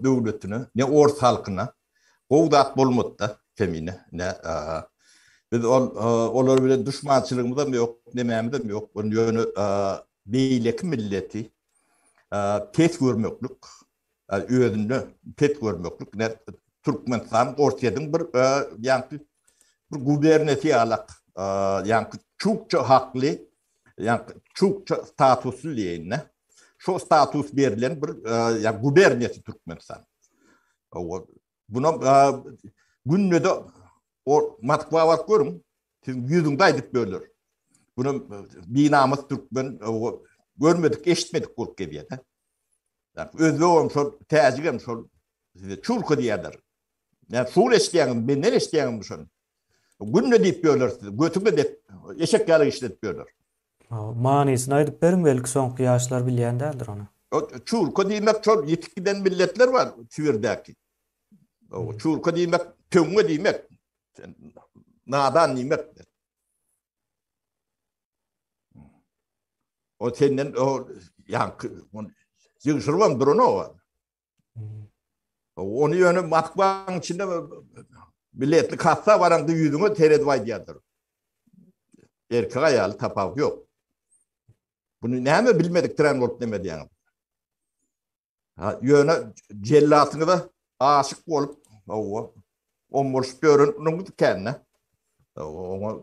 döwletine ne ors halkyna gowy zat bolmady-da kemine ne biz ol olar bilen duşmançylygymyzam ýok nemämizem ýok ýöne beýleki milleti pes görmeklik özünde pes görmeklik ne Türkmenistan Orsyýediň bir ýaňky bir guberniýasy ýalak ýaňky çukça hakly ýa-da çukça statusly diýeýin-de, şo status berlen bir ýa-da guberniýasy Türkmenistan. Buna günde-de o Moskwa baryp görüň, siziň ýüzüňizi aýdyp böler. Buna binamys türkmen görmedik, eşitmedik bolup gelýär-de. Özbek hem şol, täjik hem şol, çulka diýerler. Näme şuny eşidýäňizmi, menden eşidýäňizmi şony? Günde diýip ýörler size, götüňe dek, eşek ýaly işledip ýörler. Hawa, manysyny aýdyp beriň, belki soňky ýaşlar bilýän däldir ony. Çurka diýmek şol ýitip giden milletler bar Sibirdäki. Çurka diýmek töňňe diýmek. Nadan diýmek. O senden o ýaňky ýygşyrybam duran o. Onu yönü Moskvanyň içinde biletli kassa baran da yüzüňe seredip aýdýardyr. Erkek aýaly tapawut ýok. Bunu näme bilmedik tren bolup neme diýýäňiz? Ha, ýöne jellatyňyza aşyk bolup, owa, ombolşup ýöreniňiz ikänine. Oňa